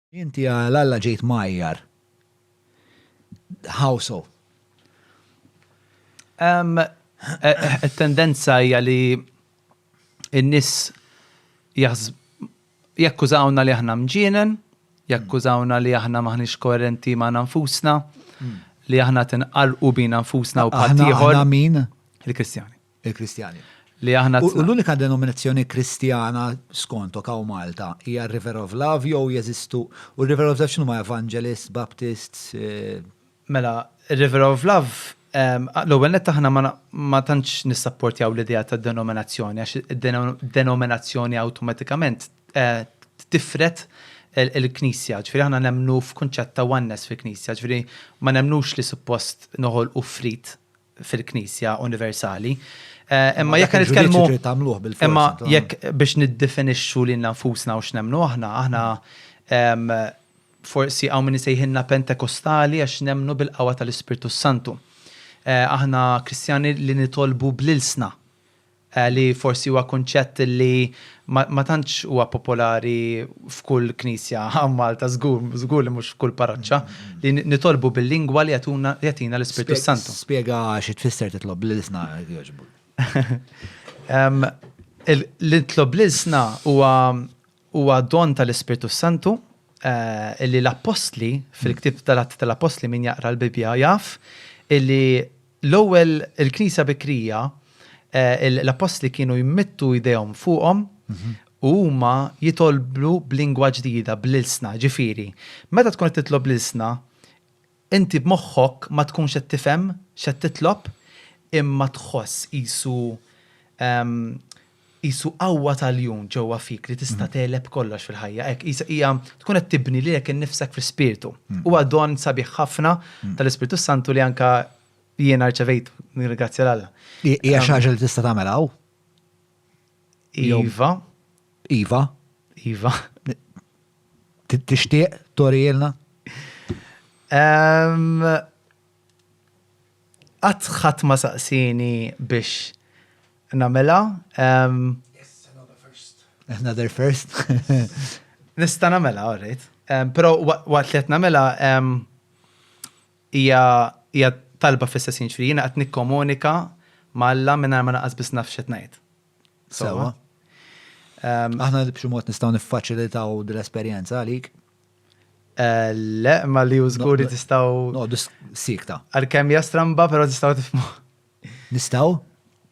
Inti għal Alla ġejt mgħajjar. How so? It-tendenza hija li n-nies jakkużawna li aħna mġienen, jakkużawna li aħna m'aħniex koerenti magħna nfusna, li aħna qed inqarrqu bina nfusna u b'ħaddieħor. Aħna min? Il-Kristjani. Il-Kristjani. Li aħna. U l-unika denominazzjoni Kristjana skontok hawn Malta hija River of Love jew jeżistu u River of Love x'inhu ma' Evangelists, Baptists? Eh, mela, River of Love L-ewwel nett aħna ma tantx nissapportjaw l-idea ta' denominazzjoni għax denominazzjoni awtomatikament eh, tifret il-Knisja, ġifieri aħna nemnu f'kunċett ta' oneness fil-Knisja, ġifieri ma nemnux li suppost noħol u frit fil-Knisja universali. Imma jekk nitkellmu tagħmluh bil Imma jekk biex niddefinixxu lil nfusna u x'nemmnu aħna, aħna forsi hawn min isejħilna Pentekostali għax nemmnu bil-qawwa tal-Ispirtu Santu. Aħna Kristjani li nitolbu bl-ilsna. li forsi huwa kunċett li ma tantx huwa popolari f'kull knisja hawn Malta, żgur, żgur li mhux f'kull parroċċa, li nitolbu bil-lingwa li jagħtina l-Ispirtu s-Santu. Spjega xi tfisser titlob bl-ilsna jekk jogħġbok. Li nitlob bl-ilsna huwa huwa don tal-Ispirtu s-Santu li l-Appostli fil-ktieb tal-Atti tal-Appostli min jaqra l-Bibbja jaf illi L-ewwel, il-Knisja bikrija, l-Appostli kienu jmittu jdejhom fuqhom u huma jitolbu b'lingwa ġdida, bl-ilsna. Ġifieri, meta tkun qed titlob l-ilsna, inti b'moħħok ma tkunx qed tifhem x'qed titlob, imma tħoss qisu Qisu qawwa t'għaljun ġewwa fik li tista' tegħleb kollox fil-ħajja. Hekk, qisha hija tkun qed tibni lilek innifsek fl-ispirtu. Huwa don sabiħ ħafna tal-Ispirtu s-Santu li anke jiena rċevejtu, nirringrazzja 'l Alla. Hija xi ħaġa li tista' tagħmel hawn? Iva. Iva? Iva. Tixtieq turihielna? Qatt ħadd ma saqsieni biex Namela. Yes, another first. Another first. Nista namela, alright. Pero waqt li namela, hija talba fl-istess ħin ġifieri jiena qed nikkomunika ma' Alla mingħajr ma naqas biss naf x'qed ngħid. Sewwa. Aħna li b'xi mod nistgħu niffaċilitaw dil-esperjenza għalik? Eh, le, ma li użguri tistgħu. No, sikta. Għalkemm hija stramba, però tistgħu tifmu. Nistgħu?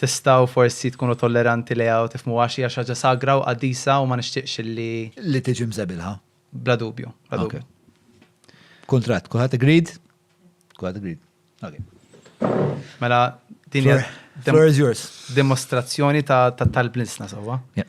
Tistgħu forsi tkunu tolleranti lejha u tifhmuha għax hija xi ħaġa sagra u qaddisa u ma nixtieqx li. Li tiġi mżebilha. Bla dubju, bla dubju. Kuntratt, kulħadd agreed? Kulħadd agreed. Okay. Mela din hija. Floor is yours. Dimostrazzjoni ta' tal-blinsna sewwa. Yeah.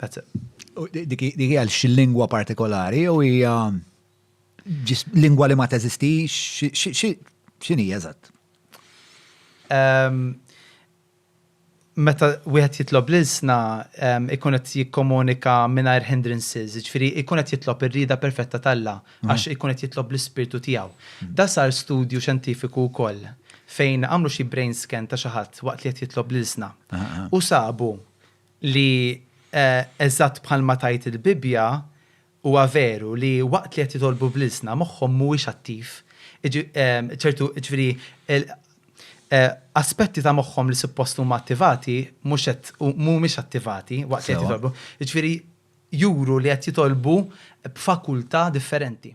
That's it. Dik hija xi lingwa partikolari jew hija lingwa li ma teżistix, x'inhi eżatt? Meta wieħed jitlob l-ilsna ikun qed jikkomunika mingħajr hindrances, jiġifieri jkun qed jitlob ir-rieda perfetta t'Alla għax ikun qed jitlob l-ispirtu tiegħu. Dan sar studju xjentifiku wkoll fejn għamlu xi brain scan ta' xi ħadd waqt li qed jitlob l-ilsna u sabu li eżatt bħalma tgħid il-Bibbja, huwa veru li waqt li qed jitolbu bl-ilsna, moħħhom mhuwiex attiv, ċertu, jiġifieri, aspetti ta' moħħhom li suppost huma attivati mhux qed, mhumiex attivati waqt li qed jitolbu. Jiġifieri, juru li qed jitolbu b'fakultà differenti.